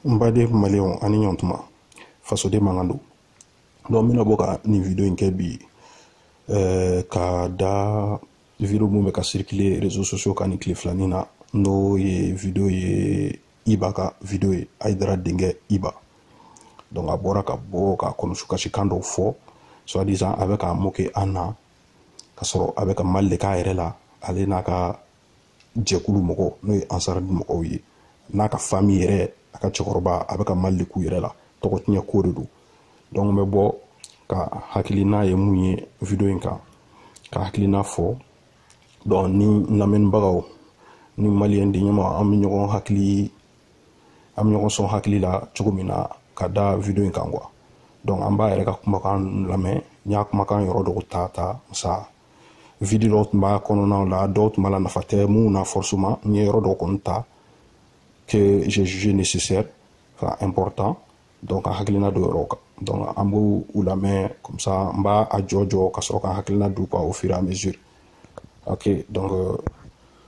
n baden maliyɛnw ani ɲɔntuma fasoden mankan don donc n bɛna bɔ ka nin video in kɛ bi eh, ka da video mun bɛ ka circuler réseaux sociaux kan nin tile filani na n'o ye video ye iba ka video ye ayidara denkɛ iba donc a bɔra ka bɔ ka kɔnɔsu kasikan dɔw fɔ soit disant a bɛ ka moquer an na ka sɔrɔ a bɛ ka mal de k'a yɛrɛ la ale n'a ka jɛkulu mɔgɔ n'o ye ansardine mɔgɔw ye n'a ka famille yɛrɛ a ka cɛkɔrɔba a bɛ ka mal de k'u yɛrɛ la tɔgɔ tiɲɛ ko de don donc n bɛ bɔ ka hakilina ye mun ye video in kan ka hakilina fɔ donc ni lamɛnnibagaw ni maliyɛn den ɲuman an bɛ ɲɔgɔn hakili an bɛ ɲɔgɔn sɔn hakili la cogo min na ka da video in kan quoi donc an b'a yɛrɛ ka kumakan lamɛn n y'a kumakan yɔrɔ dɔw ta ta sa video dɔw tun b'a kɔnɔnaw la dɔw tun b'a la nafa tɛ minnu na forcement n ye yɔrɔ dɔw kɔni ta que j'ai jugé nécessaire enfin important donc ka hakilina d'o yɔrɔw kan donc an b'u u lamɛn comme ça n b'a a jɔ jɔ ka sɔrɔ ka hakilina d'u kan au fur et à mesure ok donc euh,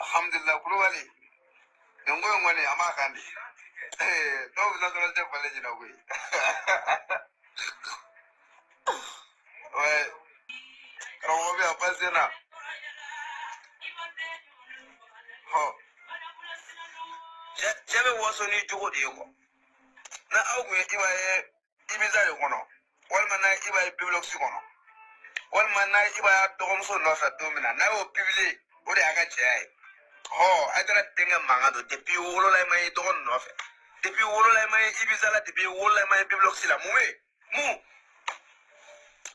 alhamdulillah kulubali nin ko in kɔni a m'a kan di dɔw bɛ nasɔrɔ tɛ falen ɲinɛ koyi ouais karamɔgɔ bɛ yan pase na hɔ cɛ bɛ waso n'i jogo de ye ko n'aw tun ye iba ye ibiza de kɔnɔ walima n'a iba ye bibilɔkisi kɔnɔ walima n'a iba ye dɔgɔmuso nɔfɛ don min na n'a y'o publier o de y'a ka cɛya ye hɔ ayidara denkɛ mankan don depuis wolola i ma ye dɔgɔ nɔfɛ depuis wolola i ma ye ibiza la depuis wolola i ma ye bibilɔkisi la mun bɛ yen mun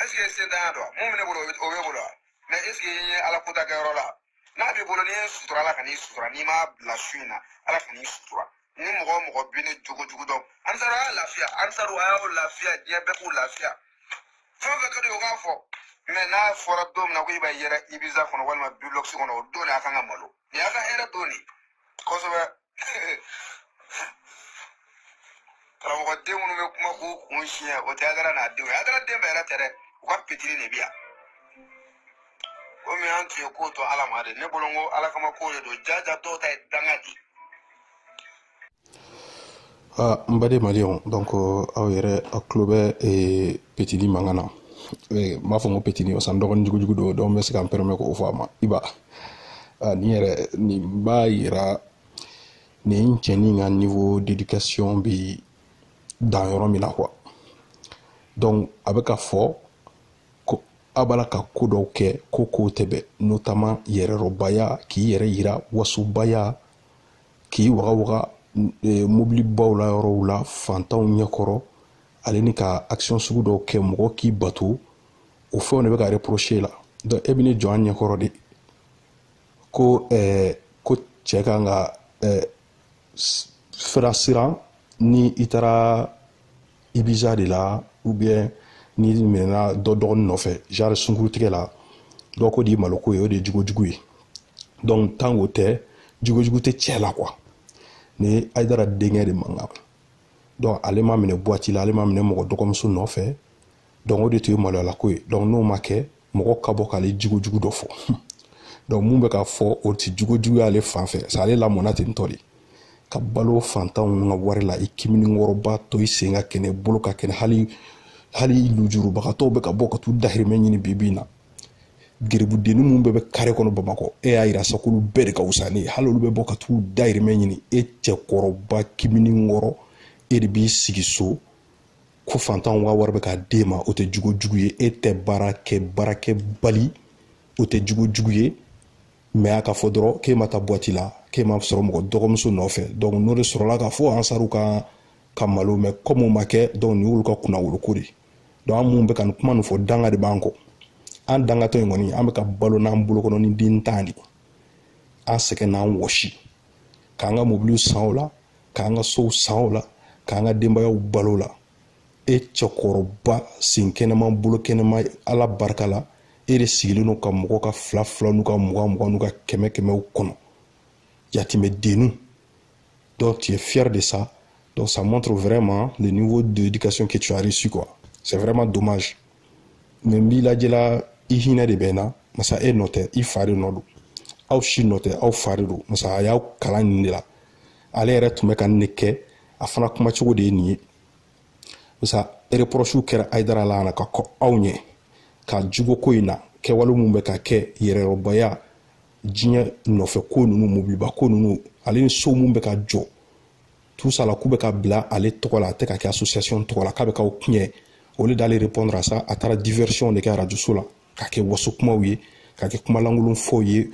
est-ce que sen tanya dɔn mun bɛ ne bolo o b'i bolo wa mais est-ce que i ye ala kota kɛyɔrɔ la n'a b'i bolo n'i ye sutura ala kan'i sutura n'i m'a bila su in na ala kan'i sutura ni mɔgɔ o mɔgɔ bɛ ne jogo jugu dɔn ansaru a y'a lafiya ansaru a y'aw lafiya diɲɛ bɛɛ k'u lafiya fɛn o fɛn ka di o k'a fɔ mais n'a fɔra don min na ko iba yera ibiza kɔnɔ walima bibilɔkisi kɔnɔ o don de a kan ka malo nin y'a ka hɛrɛ don de kosɛbɛ karamɔgɔ den minnu bɛ kuma k'u kun siyɛn o tɛ ayidara n'a denw ye ayidara den bɛɛ yɛrɛ tɛ dɛ u ka pitiri de bɛ yan komi an tun ye ko to ala ma de ne bolo n ko ala kama ko de don jaja dɔw ta ye danga di Ah, n baden maliyɛnw donc euh, aw yɛrɛ aw tulo bɛ eh, petini mankan na eh, n b'a fɔ n ko petini masa n dɔgɔnin jugujugu don donc n bɛ se ka n permet k'o fɔ a ma Iba ah, nin yɛrɛ nin b'a yira nin cɛnin ka niveau d'éducation bɛ dan yɔrɔ min na quoi donc a bɛ ka fɔ ko a b'a la ka ko dɔw kɛ ko kow tɛ bɛn notamment yɛrɛrɔbaya k'i yɛrɛ yira wasobaya k'i waga waga e, mobili baw la yɔrɔw la fantanw ɲɛkɔrɔ ale ni ka action sugu dɔw kɛ mɔgɔ k'i bato o fɛnw de bɛ ka reprocher la donc e bɛ n'i jɔ an ɲɛkɔrɔ de ko ɛɛ ko cɛ kan ka ɛɛ fɛrɛ siran ni i taara Ibiza de la ou bien n'i minɛna dɔ dɔgɔnin nɔfɛ genre sunkurutigɛ la donc o de maloko ye o de ye jugojugu ye donc tant k'o tɛ jugojugu tɛ cɛ la quoi nin Ayidara denkɛ de mankan donc ale ma minɛ boîte la ale ma minɛ mɔgɔ dɔgɔmuso nɔfɛ donc o de tun ye maloyalako ye donc n'o ma kɛ mɔgɔ ka bɔ k'ale jugojugu dɔ fɔ donc min bɛ ka fɔ o tɛ jugojugu y'ale fan fɛ masa ale lamɔna ten tɔ de ka balo fantanw ka wari la i kiminikɔrɔba to i sen ka kɛnɛ bolo ka kɛnɛ hali hali lujurubagatɔw bɛ ka bɔ ka t'u dahirimɛ ɲini bibi in na geribudenni minnu bɛɛ bɛ kare kɔnɔ bamakɔ e y'a yira sa k'olu bɛɛ de ka wusa n'e ye hali olu bɛ bɔ ka t'u dahirimɛ ɲini e cɛkɔrɔba kiminikɔrɔ e de b'i sigi so ko fantanw ka wari bɛ ka d'e ma o tɛ jugojugu ye e tɛ baara kɛ baarakɛbali o tɛ jugojugu ye mais a ka fɔ dɔrɔn k'e ma taa boîte la k'e ma sɔrɔ mɔgɔ dɔgɔmuso nɔfɛ donc n'o de sɔrɔla k'a fɔ Ansaru ka ka malo mais comme o ma kɛ donc nin y'olu ka kunnawoloko de donc an minnu bɛ ka nin kuma nin fɔ danga de b'an kɔ an dangatɔ in kɔni an bɛ ka balo n'an bolokɔnɔnin den tan de an sɛgɛn n'an wɔsi k'an ka mobiliw san o la k'an ka sow san o la k'an ka denbayaw balo o la e cɛkɔrɔba sen kɛnɛma bolo kɛnɛma ala barika la e de sigilen don ka mɔgɔ ka fila fila n'u ka mugan mugan n'u ka kɛmɛ kɛmɛw kɔnɔ yatimɛ dennu donc tu es fier de ça donc ça montre vraiment le niveau d'éducation que tu as reçu quoi c'est vraiment dommage mais n b'i lajɛ la i hinɛ de bɛ n na masa e nɔ tɛ i fa de nɔ don aw si nɔ tɛ aw fa de don masa a y'aw kalan nin de la ale yɛrɛ tun bɛ ka nin de kɛ a fana kuma cogo de ye nin ye masa reproches kɛra Ayidara la na ka kɔn aw ɲɛ ka jugo ko in na kɛwale minnu bɛ ka kɛ yɛrɛrɔbaya diɲɛ nɔfɛ ko ninnu mobiliba ko ninnu ale ni so minnu bɛ ka jɔ tout ça là k'u bɛ ka bila ale tɔgɔ la a tɛ ka kɛ association tɔgɔ la k'a bɛ k'aw tiɲɛ au lieu d'aller répondre à ça a taara diversion de kɛ arajoso la ka kɛ waso kumaw ye ka kɛ kumalankolon fɔw ye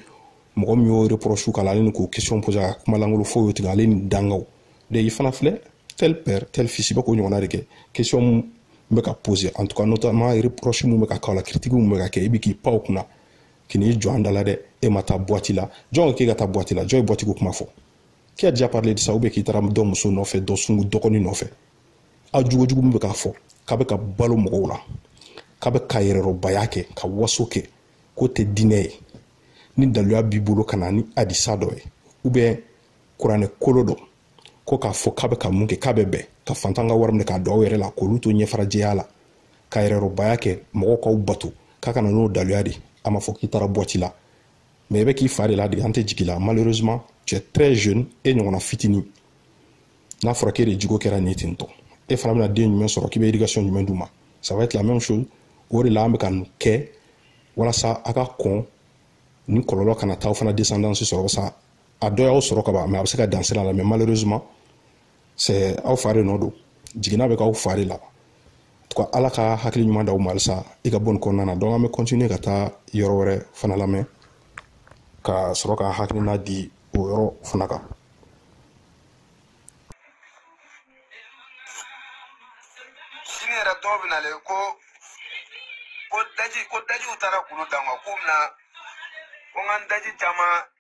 mɔgɔ min y'o reproche k'a la ale ni k'o question poser ka kumalankolon fɔw ye tigɛ ale ni dangaw de i fana filɛ tel père tel fils i bɛ k'o ɲɔgɔnna de kɛ question min bɛ ka poser en tout cas notamment reproche min bɛ ka k'aw la critique min bɛ ka kɛ i bɛ k'i pan o kunna k'i n'i jɔ an da la dɛ e ma taa boîte la jɔn ko k'e ka taa boîte la jɔn ye boîte ko kuma fɔ qui a déjà parlé de ça ou bien k'i taara dɔ muso nɔfɛ dɔ sungu dɔgɔnin nɔfɛ a jogojugu min bɛ k'a fɔ k'a bɛ ka balo mɔgɔw la k'a bɛ ka yɛrɛrɔbaya kɛ ka waso kɛ k'o tɛ diinɛ ye ni daluya b'i bolo ka na ni hadisa dɔ ye ou bien kuranɛ kolo dɔ ko k'a fɔ k'a bɛ ka mun kɛ k'a bɛ bɛn ka fantan ka wari minɛ k'a don aw yɛrɛ la k'olu to ɲɛfarajɛya la ka yɛrɛrɔbaya kɛ mɔgɔw k'aw bato k'a ka na n'o daluya de a ma fɔ k'i taara boîte la mais i bɛ k'i fa de ladege an tɛ jigi i la malheureusement tu es très jeune e ɲɔgɔnna fitinin n'a fɔra k'e de jogo kɛra nin ye ten tɔ e fana bɛna den jumɛn sɔrɔ k'i bɛ éducation jumɛn d'u ma ça va être la même chose o de la an bɛ ka nin kɛ walasa a ka ko nin kɔlɔlɔ kana taa aw fana descendance sɔrɔ sa a dɔ y'aw sɔrɔ ka ban mais a bɛ se ka dan sira la mais malheureusement c'est aw fa de nɔ don jiginna bɛ k'aw fa de la en tout cas ala ka hakili ɲuman d'aw ma halisa i ka bɔ nin kɔnɔna na donc an bɛ continuer ka taa yɔrɔ wɛrɛ fana lamɛn ka sɔrɔ ka hakilina di o yɔrɔ fana kan sini yɛrɛ dɔw bɛ nalen ko ko daji ko dajiw taara kulu dan kan k'u bɛna ko n ka daji caman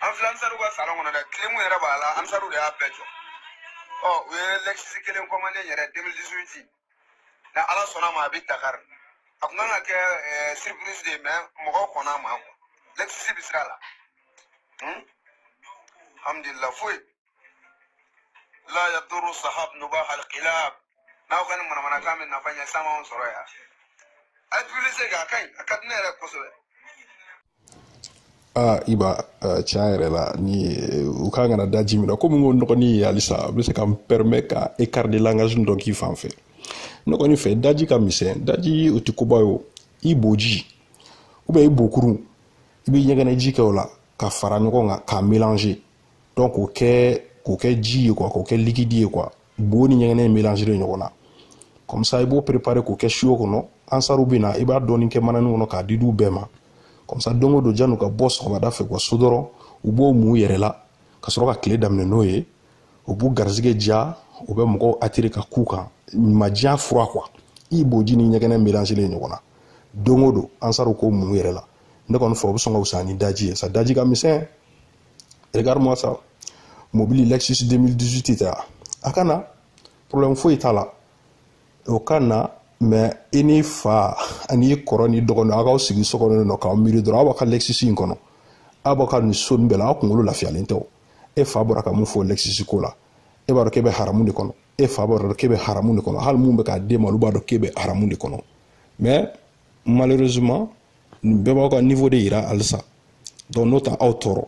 an filɛ ansaru ka salon kɔnɔ dɛ clim yɛrɛ b'a la ansaru de y'a bɛɛ jɔ ɔ u ye Lexus kelen commander n yɛrɛ 2018 na ala sɔnna a ma a bɛ dakari a tun kan ka kɛ eh, surprise de ye mais mɔgɔw kɔnna a ma Lexus bɛ sira la alhamdulilah foyi la yadurru sahab nubah alkilab n'aw ka nin manamanakan bɛ nafa ɲɛ san b'anw sɔrɔ yan a ye publicité kɛ a ka ɲi a ka di ne yɛrɛ kosɛbɛ aa iba tiɲɛ yɛrɛ la ni u kan kana daji min na komi n ko nɔgɔnin ye halisa a bɛ se ka n permet ka écart de langage dɔ k'i fan fɛ ne kɔni fɛ daji ka misɛn daji o tɛ koba ye o i boji ou bien i bokurun i bɛ ɲɛgɛnɛji kɛ o la ka fara ɲɔgɔn kan k'a mélanger donc k'o kɛ k'o kɛ ji ye quoi k'o kɛ liquide ye quoi bo ni ɲɛgɛnɛ mélanger ɲɔgɔn na comme ça i b'o préparer k'o kɛ siyo kɔnɔ ansaru bɛ na i b'a dɔɔni kɛ manani kɔnɔ k'a di d'u bɛɛ ma comme ça don o don janni u ka bɔ sɔgɔmada fɛ kuwa so dɔrɔn u b'o mun u yɛrɛ la ka sɔrɔ ka tile daminɛ n'o ye u b'u garisɛgɛ diya u bɛ mɔgɔw attirer ka k'u kan majiya fura quoi i boji ni ɲɛgɛnɛ mélanger ɲɔgɔn na don o don ansaru k'o mun u yɛrɛ la ne kɔni fɛ o bɛ sɔn ka wusa ni daji ye sa daji ka misɛn regarde-moi ça mobili lexus 2018 tɛ a a ka na problème foyi t'a la o ka na mais i ni fa ani kɔrɔ ni dɔgɔnin aw k'aw sigi so kɔnɔ nɔ k'aw miiri dɔrɔn aw b'a ka lexus in kɔnɔ aw b'a ka nin so nin bɛɛ la aw kunkolo lafiyalen tɛ o e fa bɔra ka mun fɔ lexus ko la e b'a dɔn k'e bɛ haramu de kɔnɔ e fa b'a dɔn k'e bɛ haramu de kɔnɔ hali mun bɛ k'a d'e ma olu b'a dɔn k'e bɛ haramu de kɔnɔ mais malheureusement nin bɛɛ b'aw ka niveau de yira halisa donc n'o tɛ aw tɔɔrɔ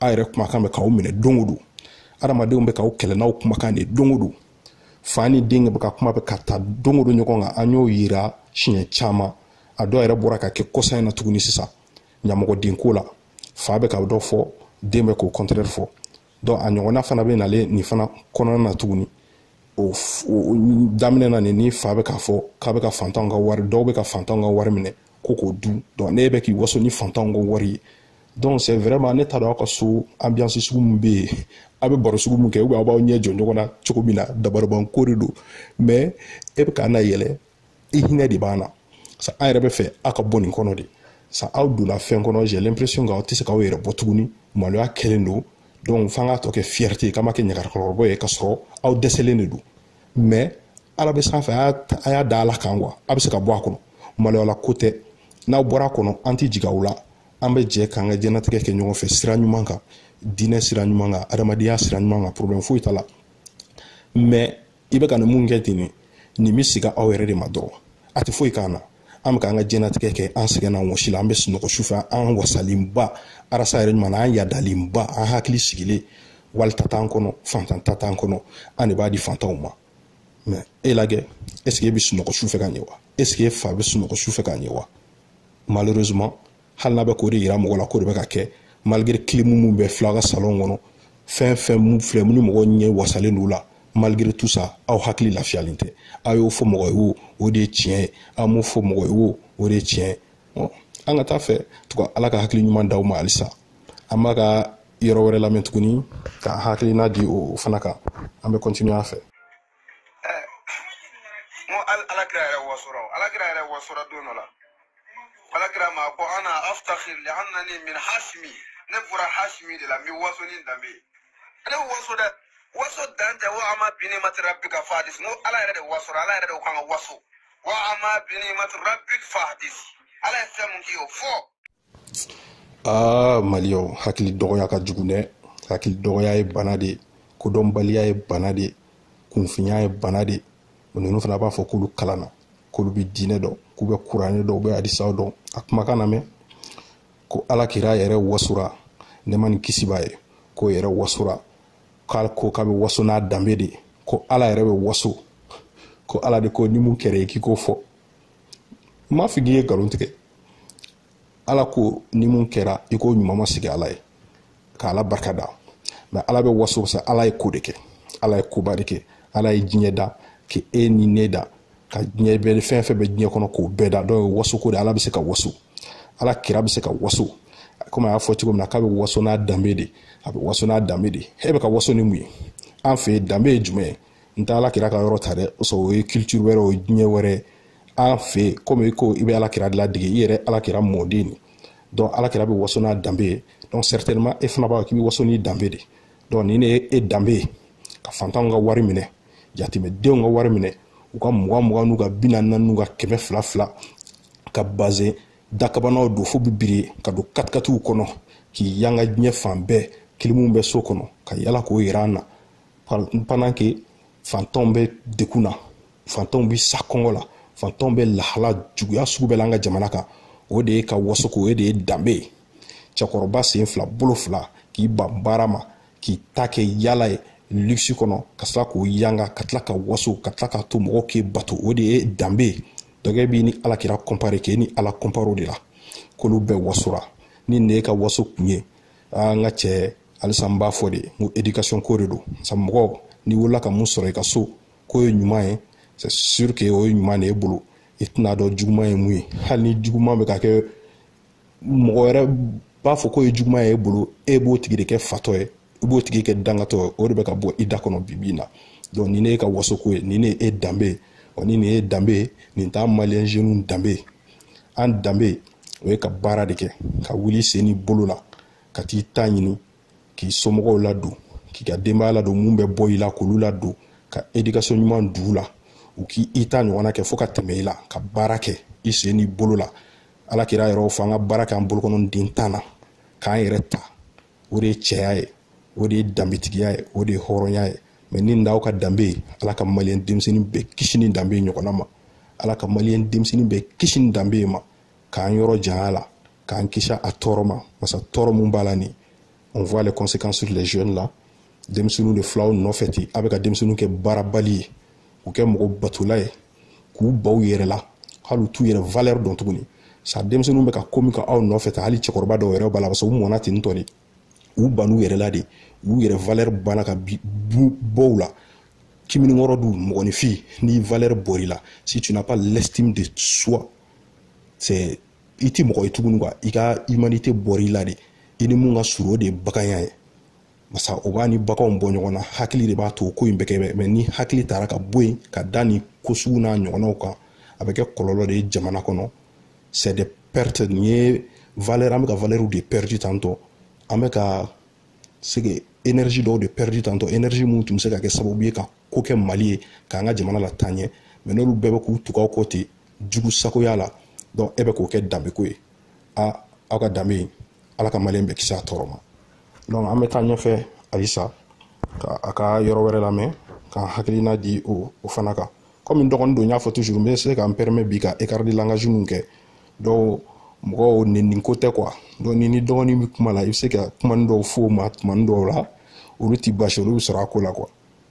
aw yɛrɛ kumakan bɛ k'aw minɛ don o don adamadenw bɛ k'aw kɛlɛ n'aw kumakan de don o don fa ni den bɛ ka kuma bɛ ka ta don o don ɲɔgɔn kan an y'o yira siɲɛ caman a dɔw yɛrɛ bɔra ka kɛ kɔsa in na tuguni sisan ɲamɔgɔdenko la fa bɛ ka dɔ fɔ den bɛ k'o contraire fɔ donc a ɲɔgɔnna fana bɛ nalen nin fana kɔnɔna na tuguni o daminɛ na nin ni fa bɛ k'a fɔ k'a bɛ ka fantanw ka wari dɔw bɛ ka fantanw ka wari minɛ ko k'o dun donc e bɛ k'i waso ni fantanw ka wari ye donc c'est vraiment ne t'a dɔn aw ka so ambiance sugu min bɛ yen aw bɛ baro sugu min kɛ ou bien aw b'aw ɲɛ jɔ ɲɔgɔn na cogo min na dabarabanko de don mais e bɛ k'an nayɛlɛ i hinɛ de b'an na sa an yɛrɛ b'a fɛ aw ka bɔ nin kɔnɔ de sa aw donna fɛn kɔnɔ j'ai l'impression k'aw tɛ se k'aw yɛrɛ bɔ tuguni maloya kɛlen don donc f'an k'a tɔ kɛ fierté ye k'an ma kɛ ɲagarakɔrɔbɔ ye k'a sɔrɔ aw dɛsɛlen de don mais ala bɛ sanfɛ a y'a da ala kan quoi a bɛ se ka bɔ a kɔnɔ maloyala ko tɛ n'aw bɔra a kɔnɔ an tɛ jigin aw la an bɛ jɛ k'an ka diɲɛnatigɛ kɛ ɲɔgɔn fɛ sira ɲuman kan diinɛ sira ɲuman kan adamadenya sira ɲuman kan problème foyi t'a la mais i bɛ ka nin mun kɛ ten ne nin bɛ segin aw yɛrɛ de ma dɔrɔn a tɛ foyi k'an na an bɛ k'an ka diɲɛnatigɛ kɛ an sɛgɛnna wɔsi la an bɛ sunɔgɔ sufɛ an wasalenba arasa yɛrɛ ɲuman an yadalenba an hakili sigilen wali ta t'an kɔnɔ fantan ta t'an kɔnɔ an de b'a di fantanw ma mais e lajɛ est-ce que e bɛ sunɔgɔ sufɛ ka ɲɛ wa est-ce que e fa bɛ sunɔgɔ sufɛ ka ɲɛ wa malheureusement hali n'a bɛ k'o de yira mɔgɔ la k'o de bɛ ka kɛ malgré clim mun bɛ filɛ aw ka salon kɔnɔ fɛn fɛn mun filɛ mun ni mɔgɔ ɲɛ wasalen don la malgré tout ça aw hakili lafiyalen tɛ aw y'o fɔ mɔgɔ ye wo o de ye tiɲɛ ye aw m'o fɔ mɔgɔ ye wo o de ye tiɲɛ ye bon an ka taa fɛ tugun ala ka hakili ɲuman d'aw ma halisa an b'a ka yɔrɔ wɛrɛ lamɛn tuguni k'an hakilina di o fana kan an bɛ continuer a fɛ ɛɛ n ko hali alakira yɛrɛ wasora alakira yɛrɛ wasora don dɔ la alakira ma ko ana aftakhir li annani min hasimi ne bɔra hasimi de la n bɛ waso ni danbe ye ale bɛ waso dɛ waso dan tɛ wa amma bi niimati rabbika fadis n ko ala yɛrɛ de wasora ala yɛrɛ de ko k'an ka waso wa amma bi niimati rabbika fadis ala ye fɛn mun k'i ye o fɔ. aa maliyɛnw hakili dɔgɔya ka jugu dɛ hakili dɔgɔya ye bana de ye kodɔnbaliya ye bana de ye kunfinya ye bana de ye o ninnu fana b'a fɔ k'olu kalanna k'olu bɛ diinɛ dɔn k'u bɛ kuranɛ dɔn u bɛ hadisaw dɔn a kumakan lamɛn ko ala kira yɛrɛ wasora ne ma nin kisi b'a ye k'o yɛrɛ wasora k'a ko k'a bɛ waso n'a danbe de ye ko ala yɛrɛ bɛ waso ko ala de ko ni mun kɛra ye k'i k'o fɔ n m'a fɔ k'i ye nkalon tigɛ ala ko ni mun kɛra i k'o ɲuman ma sigi ala ye ka ala barika da mais ala bɛ waso sa ala ye ko de kɛ ala ye koba de kɛ ala ye diɲɛ da ka e ni ne da ka diɲɛ bɛɛ fɛn fɛn bɛ diɲɛ kɔnɔ k'o bɛɛ da donc o ye waso ko de ala bɛ se ka waso ala kira bɛ se ka waso komi a y'a fɔ cogo min na k'a bɛ waso n'a danbe de a bɛ waso n'a danbe de e bɛ ka waso ni mun ye an fɛ yen danbe ye jumɛn ye n tɛ ala kira ka yɔrɔ ta dɛ o sɔrɔ o ye culture wɛrɛ o ye diɲɛ wɛrɛ ye an fɛ yen komi i ko i bɛ ala kira ladege i yɛrɛ ala kira mɔden de donc ala kira bɛ waso n'a danbe ye donc certainement e fana b'a k'i bɛ waso n'i danbe de donc nin de ye e danbe ye ka fantanw ka wari minɛ jateminɛdenw ka wari minɛ u ka mugan mugan n'u ka bi naani n'u ka kɛmɛ fila fila ka bazin dakabanaw don fo b'i biri ka don katikatiw kɔnɔ k'i yanga diɲɛ fan bɛɛ kilimu bɛ so kɔnɔ ka yala k'o yira an na pendant que fantanw bɛ degun na fantanw bi sa kɔngɔ la fantanw bɛ lahala juguya sugu bɛɛ la an ka jamana kan o de y'e ka waso ko o de ye danbe ye cɛkɔrɔba sen fila bolo fila k'i ban baara ma k'i ta kɛ yala ye luxe kɔnɔ ka tila k'o yanga ka tila ka waso ka tila k'a to mɔgɔw k'i bato o de ye danbe ye donc e b'i ni ala kira kɔnpare k'e ni ala kɔnpare o de la k'olu bɛɛ wasora ni ne ka waso kun ye an ka cɛ halisa n b'a fɔ de n ko éducation ko de don sabu mɔgɔ n'i wolola ka mun sɔrɔ i ka so k'o ye ɲuman ye c'est sûr que o ye ɲuman de y'e bolo i tɛn'a dɔn juguman ye mun ye hali ni juguman bɛ ka kɛ mɔgɔ wɛrɛ b'a fɔ k'o ye juguman ye e bolo e b'o tigi de kɛ fatɔ ye i b'o tigi kɛ dangatɔ ye o de bɛ ka bɔ i da kɔnɔ bi bi in na donc nin ne y'e ka waso ko ye nin ne ye e danbe ye ɔ ni nin ye danbe ye nin t'an maliyɛn jeunes danbe ye an danbe o ye ka baara de kɛ ka wuli sen n'i bolo la ka t'i ta ɲini k'i somɔgɔw ladon k'i ka denbaya ladon mun bɛ bɔ i la k'olu ladon ka éducation ɲuman don u la u k'i ta ɲɔgɔnna kɛ fo ka tɛmɛ i la ka baara kɛ i sen n'i bolo la ala kira yɛrɛ fɔ an ka baara kɛ an bolokɔni den tan na k'an yɛrɛ ta o de ye cɛya ye o de ye danbetigiya ye o de ye hɔrɔnya ye mais ni n'aw ka danbe ye ala ka maliyɛn denmisɛnnin bɛɛ kisi nin danbe ɲɔgɔnna ma ala ka maliyɛn denmisɛnnin bɛɛ kisi nin danbe ma k'an yɔrɔ jany'a la k'an kisi a tɔɔrɔ ma barisa tɔɔrɔ mun b'a la nin on voit les conséquences sur les jeunes là denmisɛnninw de fil'aw nɔfɛ ten a bɛ ka denmisɛnninw kɛ baarabali ye k'u kɛ mɔgɔ batola ye k'u ban u yɛrɛ la hali u t'u yɛrɛ valeur dɔn tuguni sa denmisɛnninw bɛ ka ko min k'aw nɔfɛ tan hali cɛkɔrɔba dɔw yɛrɛ b'a la paseke u mɔna ten tɔ de u ban'u yɛrɛ la de u yɛrɛ valeur banna ka bɔ u la komi nin kɔrɔ don mɔgɔninfin ni valeur bɔr'i la si tu n'as pas l'estime de soi c'est i tɛ mɔgɔ ye tuguni quoi i ka humanité bɔra i la de i ni mun ka surun o de ye baganya ye barisa o b'an ni baganw bɔ ɲɔgɔn na hakili de b'a to ko in bɛ kɛ mais ni hakili taara ka bɔ yen ka da nin ko sugu n'a ɲɔgɔnnaw kan a bɛ kɛ kɔlɔlɔ de ye jamana kɔnɔ c'est des pertes nin ye valeur an bɛ ka valeur de perdu tantɔ an bɛ ka c'est que énergie dɔw de perdu tantɔ énergie mun tun bɛ se ka kɛ sababu ye ka ko kɛ mali ye k'an ka jamana lataa ɲɛ mais n'olu bɛɛ bɛ k'u tugu aw kɔ ten jugu sagoya la donc e bɛ k'o kɛ danbeko ye a aw ka danbe in ala ka maliyɛn bɛɛ kisi a tɔɔrɔ ma donc an bɛ taa ɲɛfɛ halisa ka a ka yɔrɔ wɛrɛ lamɛn k'an hakilina di o o fana kan komi n dɔgɔnin don n y'a fɔ toujours n bɛ se ka n pɛrɛmɛ bi ka écart de langage min kɛ don mɔgɔ nɛni ko tɛ quoi donc n'i n'i dɔgɔnin bɛ kuma la i bɛ se ka kumani dɔw f'o ma tumani dɔw la olu ti baasi olu bɛ sɔrɔ a ko la quoi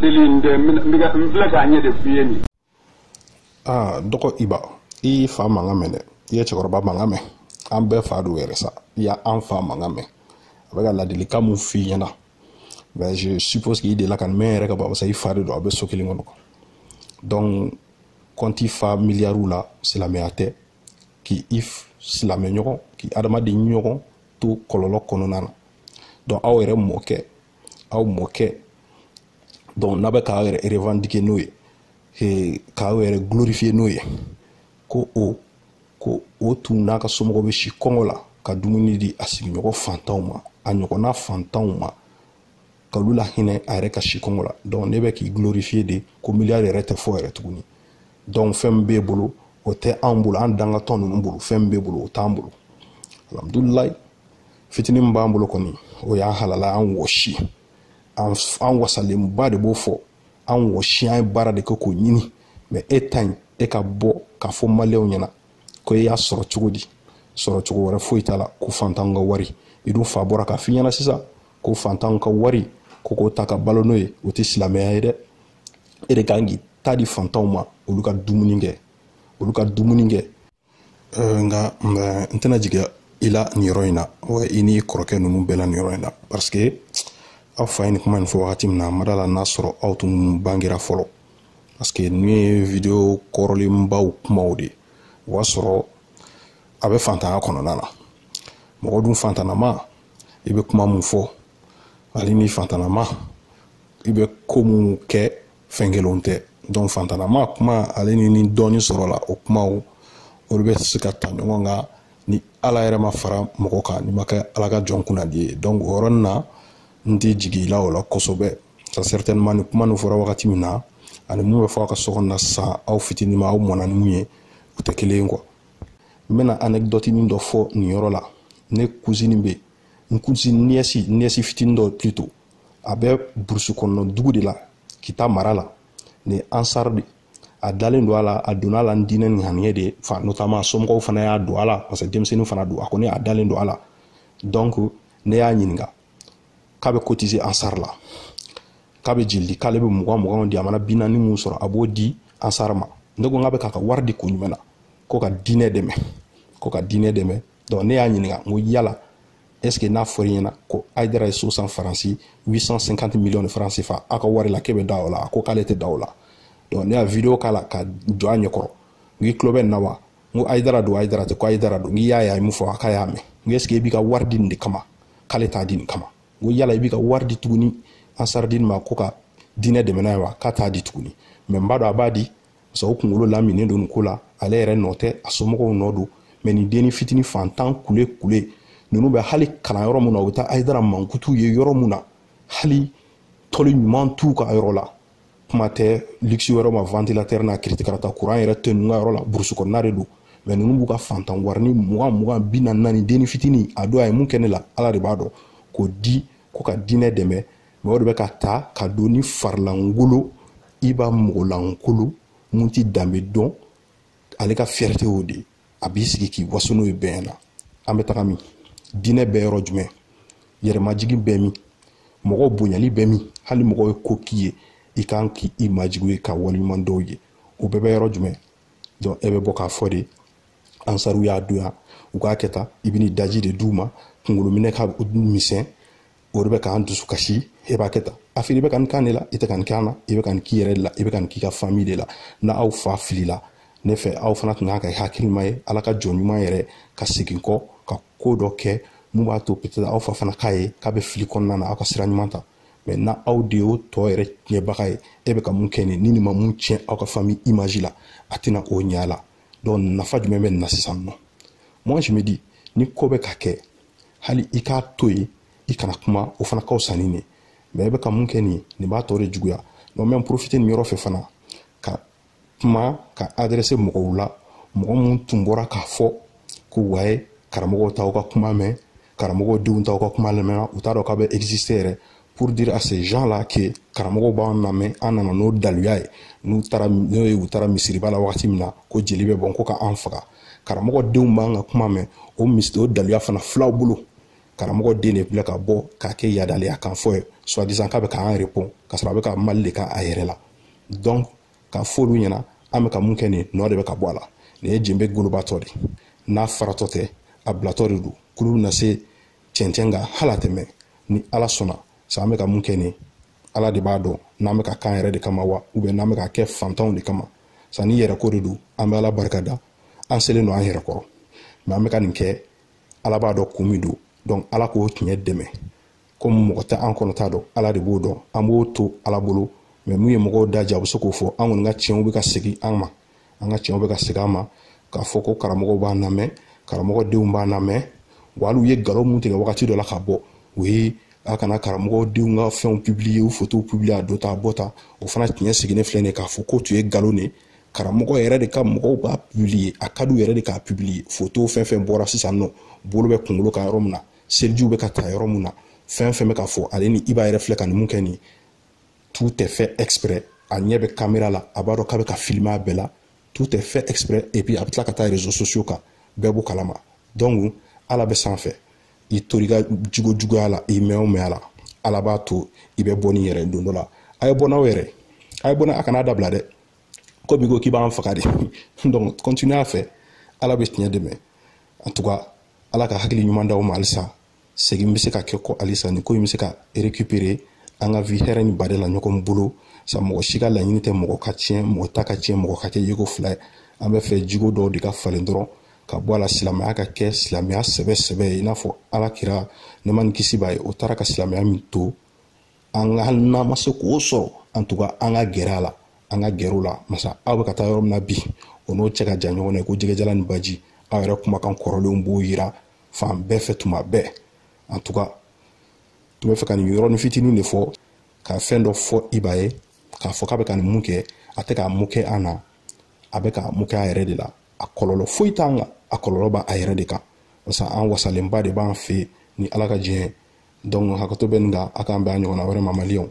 deli n tɛ n bɛ n filɛ k'a ɲɛ de f'i ye nin aa dɔgɔ iba i y'i fa mankan mɛn dɛ i ye cɛkɔrɔba mankan mɛn an bɛɛ fa don yɛrɛ sa i y'an fa mankan mɛn a bɛ ka ladilikan mun f'i ɲɛna mais je suppose k'i delila ka nin mɛn yɛrɛ ka ban barisa i fa de don aw bɛ so kelen kɔnɔ donc kɔnti fa miliyariw la silamɛya tɛ k'i i silamɛ ɲɔgɔn k'i adamaden ɲɔgɔn to kɔlɔlɔ kɔnɔna na donc aw yɛrɛ mɔkɛ aw mɔkɛ donc n'aw bɛ k'aw yɛrɛ revendiquer n'o ye k'aw yɛrɛ glorifier n'o ye ko o ko o tun n'a ka somɔgɔw bɛ si kɔngɔ la ka dumuni di a sigiɲɔgɔn fantanw ma a ɲɔgɔnna fantanw ma ka olu lahinɛ a yɛrɛ ka si kɔngɔ la donc n'e bɛ k'i glorifier de ko miliyari yɛrɛ tɛ fɔ yɛrɛ tuguni donc fɛn min b'e bolo o tɛ anw bolo an dangatɔ ninnu bolo fɛn min b'e bolo o t'an bolo alhamdulilayi fitinin min b'an bolo kɔni o y'an halala an wɔsi an wasalenba de b'o fɔ an wɔsi an ye baara de kɛ k'o ɲini mais e ta in e ka bɔ k'a fɔ maliyɛnw ɲɛna ko e y'a sɔrɔ cogo di sɔrɔ cogo wɛrɛ foyi t'a la ko fantanw ka wari i dun fa bɔra k'a f'i ɲɛna sisan ko fantanw ka wari ko k'o ta ka balo n'o ye o tɛ silamɛya ye dɛ e de kan k'i ta di fantanw ma olu ka dumuni kɛ olu ka dumuni kɛ nka n tɛna jigin i la nin yɔrɔ in na wa i ni kɔrɔkɛ ninnu bɛɛ la nin yɔrɔ in na parce que aw fa ye nin kuma nin fɔ wagati min na n ma d'a la n'a sɔrɔ aw tun bangera fɔlɔ parce que ninnu ye video kɔrɔlenbaw kumaw de ye o y'a sɔrɔ a bɛ fantanya kɔnɔna na mɔgɔ dun fantanama i bɛ kuma mun fɔ hali ni fantanama i bɛ ko minnu kɛ fɛn kelenw tɛ donc fantanama kuma ale ni ni dɔɔnin sɔrɔla o kumaw olu bɛ se ka ta ɲɔgɔn kan ni ala yɛrɛ ma fara mɔgɔ kan n'i ma kɛ ala ka jɔn kunnadi ye donc o yɔrɔnin na n tɛ jigin i la o la kosɛbɛ ça certainement nin kuma nin fɔra wagati min na ani mun bɛ fɔ a ka so kɔnɔna sisan aw fitinin ma aw mɔnna ni mun ye u tɛ kelen ye quoi n bɛna anecdotenin dɔ fɔ nin yɔrɔ la ne cousine bɛ n cousine nièce nièce fitinin dɔ plutôt a bɛ burusi kɔnɔna dugu de la kita mara la ni ansar de a dalen don a la a donna a la ni diinɛ ni ŋaniya de ye fa notamment somɔgɔw fana y'a don a la parce que denmisɛnnin fana don a kɔni a dalen don a la donc ne y'a ɲininka k'a bɛ cotiser ansar la k'a bɛ jeli di k'ale bɛ mugan muganw di a mana bi naani mun sɔrɔ a b'o di ansar ma ne ko n k'a bɛ k'a ka wari di kun jumɛn na ko ka diinɛ dɛmɛ ko ka diinɛ dɛmɛ donc ne y'a ɲininka n ko yala est ce que n'a fɔra i ɲɛna ko ayidara ye so san faransi 850 millions de francs CFA aw ka wari la k'e bɛ da o la a ko k'ale tɛ da o la donc ne y'a video k'a la ka jɔ a ɲɛkɔrɔ n k'i tulo bɛ nin na wa n ko ayidara don ayidara tɛ ko ayidara don n k'i y'a ye a ye mun fɔ a k'a y'a mɛn n ko est ce que i b'i ka wari di nin de kama k'ale t'a di nin kama n ko yala i b'i ka wari di tuguni ansaridini ma ko ka diinɛ dɛmɛ n'a ye wa k'a t'a di tuguni mais n b'a dɔn a b'a di parce que o kunkolo laminen don nin ko la ale yɛrɛ nɔ tɛ a somɔgɔw nɔ don mais nin denni fitini fantan kule kule ninnu bɛ hali kalan yɔrɔ min na u bɛ taa ayidara mankutu ye yɔrɔ min na hali tɔli ɲuman t'u ka yɔrɔ la kuma tɛ luxe wɛrɛ ma ventilateur n'a kiritikarata kuran yɛrɛ tɛ ninnu ka yɔrɔ la burusi kɔnɔna de don mais ninnu b'u ka fantan warini mugan mugan bi naani naani denni fitini a don a ye mun kɛ ne la ala de b'a dɔn k'o di ko ka diinɛ dɛmɛ mais o de bɛ ka ta ka don ni farilankolon i b'a mɔgɔlankolon mun ti danbe dɔn ale ka fierté o de a b'i sigi k'i waso n'o ye bɛɛ na an bɛ taga min diinɛ bɛ yɔrɔ jumɛn yɛrɛmajigin bɛ min mɔgɔ bonyali bɛ min hali mɔgɔ ye ko k'i ye i kan k'i majigin a ye ka waleɲuman dɔn a ye o bɛɛ bɛ yɔrɔ jumɛn donc e bɛ bɔ k'a fɔ de ansariw y'a donya u k'a kɛ tan i bɛ n'i daji de d'u ma kunkolominɛ ka misɛn o de bɛ k'an dusu kasi e b'a kɛ tan a fili i bɛ ka nin kan de la i tɛ ka nin kan na i bɛ ka nin k'i yɛrɛ de la i bɛ ka nin k'i ka fami de la na aw fa filila ne fɛ aw fana tun kan ka hakilima ye ala ka jɔn ɲuman yɛrɛ ka segin kɔ ka ko dɔ kɛ mun b'a to peut-être aw fa fana k'a ye k'a bɛ fili kɔnɔna na aw ka sira ɲuman ta mais na aw de y'o tɔ yɛrɛ tiɲɛbaga ye e bɛ ka mun kɛ nin ni nin ma mun tiɲɛ aw ka fami image la a tɛna o ɲɛ a la donc nafa jumɛn bɛ nin na sisan nɔ moi je me dis ni ko bɛ ka kɛ hali i k'a to yen i kana kuma o fana ka fisa ni nin mais i bɛ ka mun kɛ nin nin b'a tɔ de juguya donc n bɛ profiter nin yɔrɔ fɛ fana ka kuma ka adresser mɔgɔw la mɔgɔ minnu tun bɔra k'a fɔ ko ouais karamɔgɔw t'aw ka kuma mɛn karamɔgɔw denw t'aw ka kuma lamɛn u t'a dɔn k'a bɛ exister yɛrɛ pour dire à ces gens là que karamɔgɔw b'an lamɛn an nana n'o daluya ye n'u taara n'o ye u taara misiriba la wagati min na ko jeli bɛ bɔn ko ka an faga karamɔgɔ denw b'an ka kuma mɛn o misiri o daluya fana filɛ aw bolo karamɔgɔ den de filɛ ka bɔ k'a kɛ yadaleya kan fɔ ye soi-disant k'a bɛ k'an répond ka sɔrɔ a bɛ ka mali de k'a yɛrɛ la donc ka f'olu ɲɛna an bɛ ka mun kɛ nin nɔ de bɛ ka bɔ a la nin ye jenbe golobatɔ de n'a faratɔ tɛ a bilatɔ de don kurun bɛna se cɛncɛn kan hali a tɛmɛ ni ala sɔnna sa an bɛ ka mun kɛ nin ala de b'a dɔn n'an bɛ ka k'an yɛrɛ de kama wa ou bien n'an bɛ ka kɛ fantanw de kama sa ni yɛrɛko de don an bɛ ala barika da an selen don an yɛrɛ kɔrɔ mais an bɛ ka nin kɛ ala b'a dɔn kun min don donc ala k'o tiɲɛ dɛmɛ comme mɔgɔ tɛ an kɔnɔ ta dɔn ala de b'o dɔn an b'o to ala bolo mais mun ye mɔgɔw da diya u bɛ se k'o fɔ an kɔni ka tiɲɛw bɛ ka segin an ma an ka tiɲɛw bɛ ka segin an ma k'a fɔ ko karamɔgɔw b'an lamɛn karamɔgɔ denw b'an lamɛn wa hali u ye nkalon mun tigɛ wagati dɔ la ka bɔ ouais a kana karamɔgɔ denw ka fɛnw publier u fotow publier a dontɔ a bɔtɔ o fana tiɲɛ sigilen filɛ nin ye k'a fɔ k'o tun ye nkalon de ye karamɔgɔ yɛrɛ de ka mɔgɔw b'a publier a ka du yɛrɛ de k'a publier fotow fɛn fɛn bɔra sisan nɔ bolo bɛ kunkolo kan yɔrɔ min na selijiw bɛ ka ta yɔrɔ min na fɛn fɛn bɛ ka fɔ ale ni iba yɛrɛ filɛ ka nin mun kɛ nin ye tout est fait exprès a ɲɛ bɛ kamera la a b'a dɔn k'a bɛ ka filmer a bɛɛ la tout est fait exprès et puis a bɛ tila ka taa réseaux sociaux kan bɛɛ b'o kalama donc ala bɛ sanfɛ i tori ka jugu juguya la i mɛn o mɛn a la ala b'a to i bɛ bɔ n'i yɛrɛ don dɔ la a ye bɔ n'aw yɛrɛ a ye bɔ n'a a kana dabila dɛ ko bi ko k'i b'an faga de donc continue a fɛ ala bɛ tiɲɛ dɛmɛ en tout cas ala ka hakili ɲuman d'aw ma halisa segin bɛ se ka kɛ kɔ halisa nin ko in bɛ se ka récupérer an ka vi hɛrɛ ni bade la ɲɔgɔn bolo sa mɔgɔ si ka laɲini tɛ mɔgɔ ka tiɲɛ mɔgɔ ta ka tiɲɛ mɔgɔ ka kɛ yeko fila ye an bɛ fɛ jogo dɔw de ka falen dɔrɔn ka bɔ a la silamɛya ka kɛ silamɛya sɛbɛ sɛbɛ ye i n'a fɔ ala kira nɛɛma ni kisi b'a ye o taara ka silamɛya min to an ka hali n'an ma se k'o sɔrɔ en tout cas an ka gɛrɛ a la an ka gɛrɛ o la masa aw bɛ ka taa yɔrɔ min na bi o n'o cɛ ka jan ɲɔgɔn na ko jɛgɛjalan ni baji aw yɛrɛ kumakan kɔrɔlenw b'o yira fan bɛɛ fɛ tuma bɛɛ antuka tun b'a fɛ ka nin yɔrɔnin fitinin de fɔ ka fɛn dɔ fɔ iba ye k'a fɔ k'a bɛ ka nin mun kɛ a tɛ k'a mun kɛ an na a bɛ k'a mun kɛ a yɛrɛ de la a kɔlɔlɔ foyi t'an kan a kɔlɔlɔ b'a yɛrɛ de kan barisa an wasalenba de b'an fɛ ni ala ka diɲɛ dɔnku hakɛto bɛ nin kan a k'an bɛn a ɲɔgɔnna wɛrɛ ma maliyɛnw